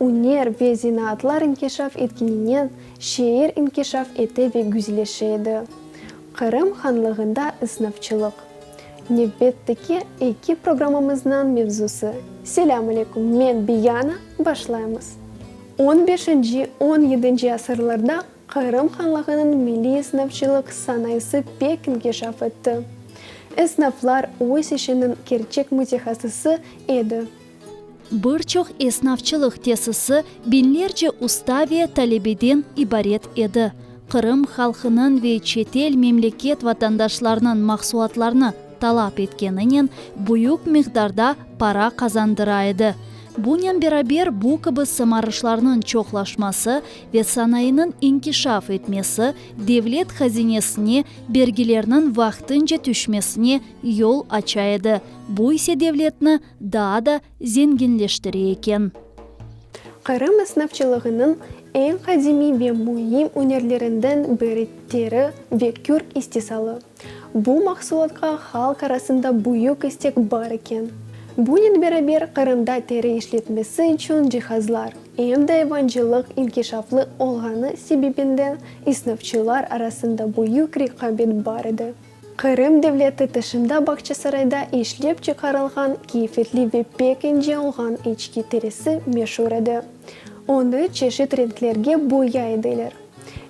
üner ve zenaatlar inkişaf etkeninen şeer inkişaf ete ve güzleşe edi. Qırım Hanlığında ısnafçılıq. Nevbetteki eki programmamıznıñ mevzusı, Selâm aleyküm, men Biyana, başlaymız. On beşinci, on yedinci asırlarda Qırım Hanlığınıñ milliy ısnafçılıq sanayısı pek inkişaf etti. Isnaflar öz işiniñ kerçek mütehasısı edi. Bir çoq esnafçılıq tesisi biñlerce usta ve talebeden ibaret edi. Qırım halqınıñ ve çetel memleket vatandaşlarınıñ mahsulatlarını talap etkeninen büyük miqdarda para qazandıra edi. Bunen beraber bu kibi sımarışlarnıñ çoqlaşması ve sanayınıñ inkişaf etmesi devlet hazinesine bergilerniñ vaqtınca tüşmesine yol aça edi, bu ise devletni Daa da zenginleştire eken. Qırım esnafçılığınıñ eñ qadimiy ve müim ünerlerinden biri teri ve kürk istisalı. Bu mahsulatqa halq arasında büyük istek bar eken. Bunen beraber Qırımda teri işletmesi içün cihazlar, em de evancılıq inkişaflı olğanı sebebinden esnafçılar arasında büyük reqabet bar edi. Qırım devleti tışında Bağçasarayda işlep çıqarılğan keyfetli ve pek ince olğan içki terisi meşur edi. Onı çeşit renklerge boyay ediler.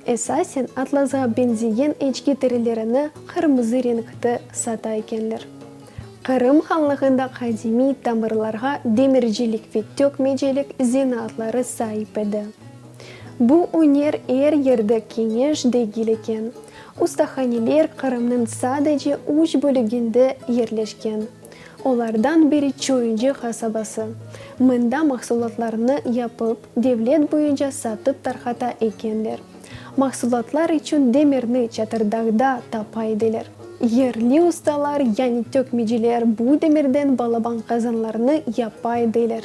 Esasen atlasğa benzeyen içki terilerini qırmızı renkte sata ekenler. Qırım hanlığında qadimiy tamırlarğa demircilik ve tökmecilik zenaatları saip edi. Bu üner er yerde keñeş degil eken. Ustahaneler Qırımnıñ sadece üç bölüginde yerleşken, olardan biri Çoyuncu qasabası. Mında mahsulatlarnı yapıp, devlet boyunca satıp tarqata ekenler. Mahsulatlar içün demirni Çatırdağda tapa ediler. Yerli ustalar, yani tökmeciler, bu demirden balaban qazanlarnı yapa ediler.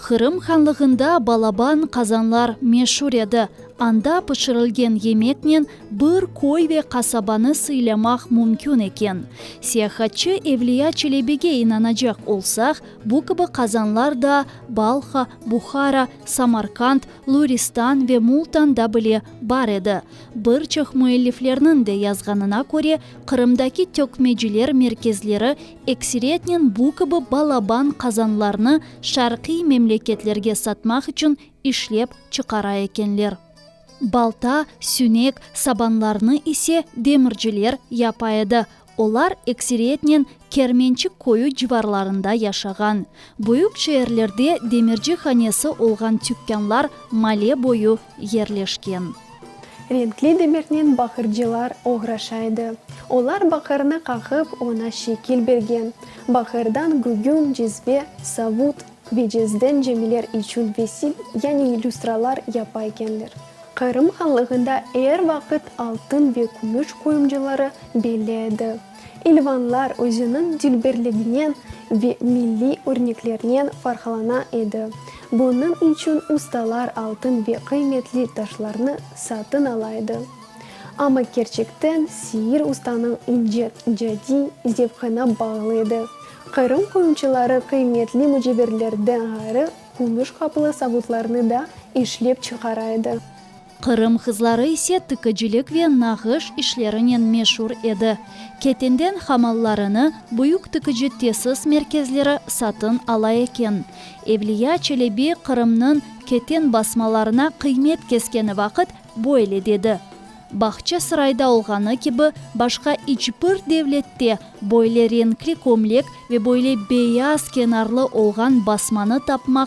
Qırım hanlığında balaban qazanlar meşur edi. Anda pişirilgen yemeknen bir köy ve qasabanı sıylamaq mümkün eken. Siyahatçı Evliya Çelebige inanacaq olsaq, bu kibi qazanlar da Balha, Buhara, Samarkand, Luristan ve Multanda bile bar edi. Bir çoq müelliflerniñ de yazğanına köre, Qırımdaki tökmeciler merkezleri Ekseriyetnen bu kibi balaban qazanlarnı şarqiy memleketlerge satmaq içün işlep çıqara ekenler. Balta, sünek, sabanlarnı ise demirciler yapa edi, olar ekseriyetnen Kermençik köyü civarlarında yaşağan. Büyük şeerlerde demirci hanesi olğan tükânlar male boyu yerleşken. Renkli demirnen baqırcılar oğraşa edi. Olar baqırnı qaqıp, oña şekil bergen. Baqırdan gügün, cizbe, savut ve cezden cemiler içün vesil, yani illüstralar yapa ekenler. Qırım hanlığında er vaqıt altın ve kümüş qoyumcıları belli edi. Elvanlar özüniñ dilberliginen ve milliy örneklernen farqlana edi. Bunıñ içün ustalar altın ve qıymetli taşlarnı satın ala edi. Amma kerçekten Siir ustanıñ ince, cadi, zevqına bağlı edi. Qırım qoyunçıları qıymetli müceverlerden ğayrı kümüş qaplı savutlarnı da işlep çıqara edi. Qırım qızları ise tikicilik ve nağış işlerinen meşur edi. Ketenden hamallarını büyük tikici tesis merkezleri satın ala eken. Evliya Çelebi Qırımnıñ keten basmalarına qıymet keskeni vaqıt böyle dedi, Bağçasarayda olğanı kibi başqa iç bir devlette böyle renkli kömlek ve böyle beyaz kenarlı olğan basmanı tapmaq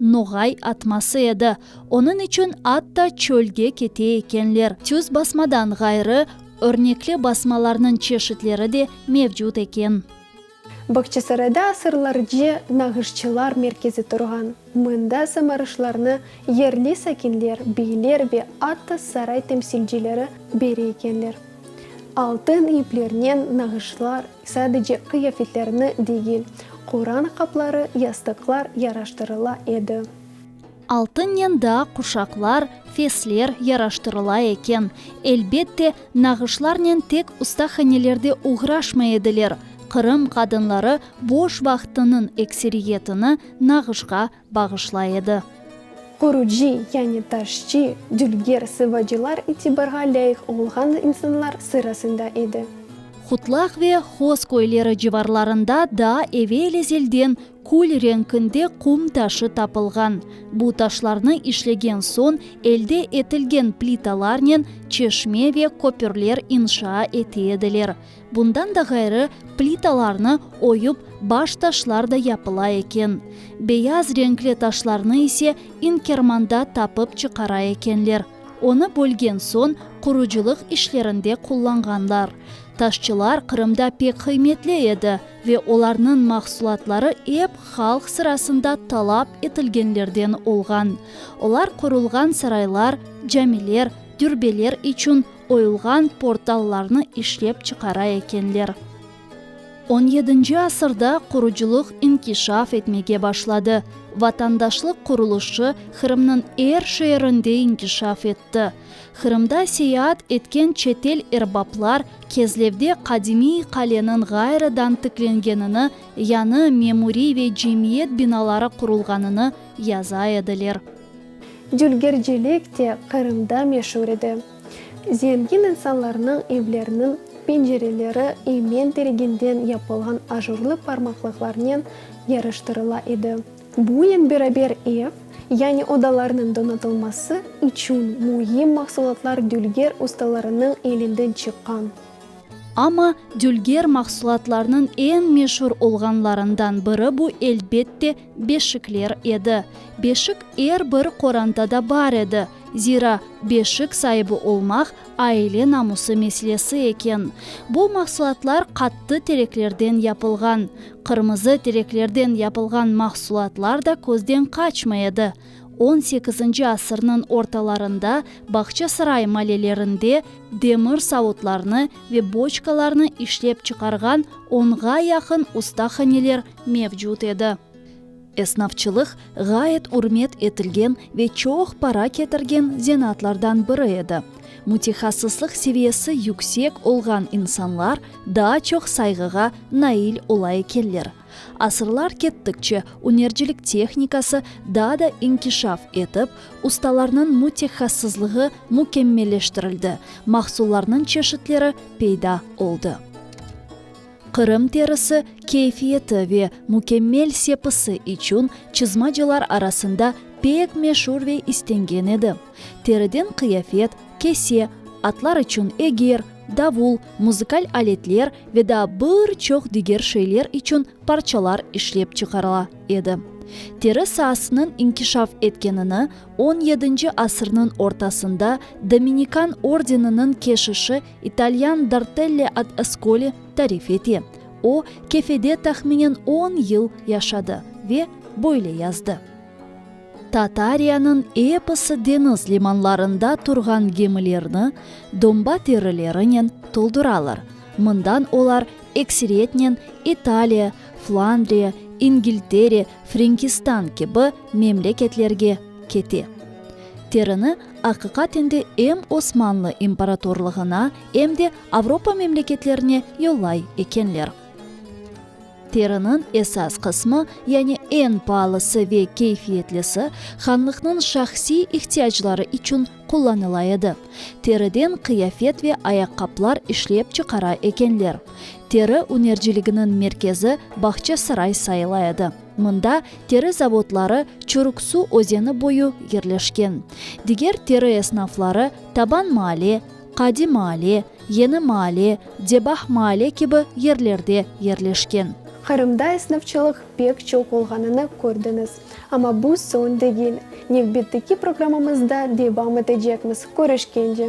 Noğay atması edi. Onıñ içün atta çölge kete ekenler. Tüz basmadan ğayrı, örnekli basmalarnıñ çeşitleri de mevcut eken. Bağçasarayda asırlarce nağışçılar merkezi turğan. Mında samarışlarnı yerli sakinler, beyler ve atta saray temsilcileri beri ekenler. Altın iplernen nağışlar, Sadece qıyafetlerni degil, Quran qapları, yastıqlar yaraştırıla edi. Altınnen daa quşaqlar, fesler yaraştırıla eken. Elbette, nağışlarnen tek ustahanelerde oğraşmay ediler, Qırım qadınları boş vaqtınıñ ekseriyetini nağışqa bağışlay edi. Qurucı, yani taşçı, dülger, sıvacılar itibarğa lâyıq olğan insanlar sırasında edi. Hutlaq ve Hoz köyleri civarlarında daa evel ezelden kül renkinde qum taşı tapılğan. Bu taşlarnı işlegen soñ elde etilgen plitalarnen çeşme ve köpürler inşaa ete ediler. Bundan da ğayrı, plitalarnı oyup, baş taşlar da yapıla eken. Beyaz renkli taşlarnı ise İnkermanda tapıp çıqara ekenler. Onı bölgen soñ, qurucılıq işlerinde qullanğanlar. Taşçılar Qırımda pek qıymetli edi ve olarnıñ mahsulatları ep halq sırasında talap etilgenlerden olğan. Olar qurulğan saraylar, camiler, dürbeler içün oyulğan portallarnı işlep çıqara ekenler. On yedinci asırda qurucılıq inkişaf etmege başladı, vatandaşlıq qurulışı Qırımnıñ er şeerinde inkişaf etti. Qırımda seyaat etken çetel erbaplar Kezlevde qadimiy qaleniñ ğayrıdan tiklengenini, yañı memuriy ve cemiyet binaları qurulğanını yaza ediler. Dülgercilik de Qırımda meşur edi. Zengin insanlarnıñ evleriniñ pencereleri emen teriginden yapılğan ajurlı parmaqlıqlarnen yarıştırıla edi. Bunen beraber ev, yani odalarnıñ donatılması içün müim mahsulatlar dülger ustalarınıñ elinden çıqqan. Amma dülger mahsulatlarnıñ eñ meşur olğanlarından biri bu, elbette, Beşikler edi. Beşik er bir qorantada bar edi, zira beşik saibi olmaq aile namusı meslesi eken. Bu mahsulatlar qattı tereklerden yapılğan. Qırmızı tereklerden yapılğan mahsulatlar da közden qaçmay edi. On sekizinci asırnıñ ortalarında Bağçasaray malelerinde demir savutlarnı ve boçkalarnı işlep çıqarğan onğa yaqın ustahaneler mevcut edi. Esnafçılıq, ğayet ürmet etilgen ve çoq para ketirgen zenaatlardan biri edi. Mütehassıslıq seviyesi yüksek olğan insanlar daa çoq sayğığa nail ola ekenler. Asırlar kettikçe, ünercilik tehnikası daa da inkişaf etip, ustalarnıñ mütehassızlığı mükemmelleştirildi, mahsullarnıñ çeşitleri peyda oldı. Qırım terisi keyfiyeti ve mükemmel sepisi içün çizmacılar arasında pek meşur ve istengen edi. Teriden qıyafet, kese, atlar içün eger, davul, muzıkal aletler ve daa bir çoq diger şeyler içün parçalar işlep çıqarıla edi. Teri saasınıñ inkişaf etkenini on yedinci asırnıñ ortasında Dominikan ordeniniñ keşişi İtalyan Dartelle ad Ascoli tarif ete, O, Kefede tahminen on yıl yaşadı ve böyle yazdı, Tatariyanıñ episi deñiz limanlarında turğan gemilerni domba terilerinen tolduralar, mından olar ekseriyetnen İtaliya, Flandriya, İngiltere, Frenkistan kibi memleketlerge kete. Terini aqiqaten de em Osmanlı imparatorlığına, em de Avropa memleketlerine yollay ekenler. Teriniñ esas qısmı, yani eñ paalısı ve keyfiyetlisi, hanlıqnıñ şahsiy ihtiyacları içün qullanıla edi. Teriden qıyafet ve ayaqqaplar işlep çıqara ekenler. Teri ünerciliginiñ merkezi Bağçasaray sayıla edi. Mında teri zavodları Çuruksu özeni boyu yerleşken. Diger teri esnafları Taban Maale, Qadi Maale, Yeni Maale, Debah Maale kibi yerlerde yerleşken. Qırımda esnafçılıq pek çoq olğanını kördiñiz. Amma bu soñ degil. Nevbetteki programmamızda devam etecekmiz. Körüşkence!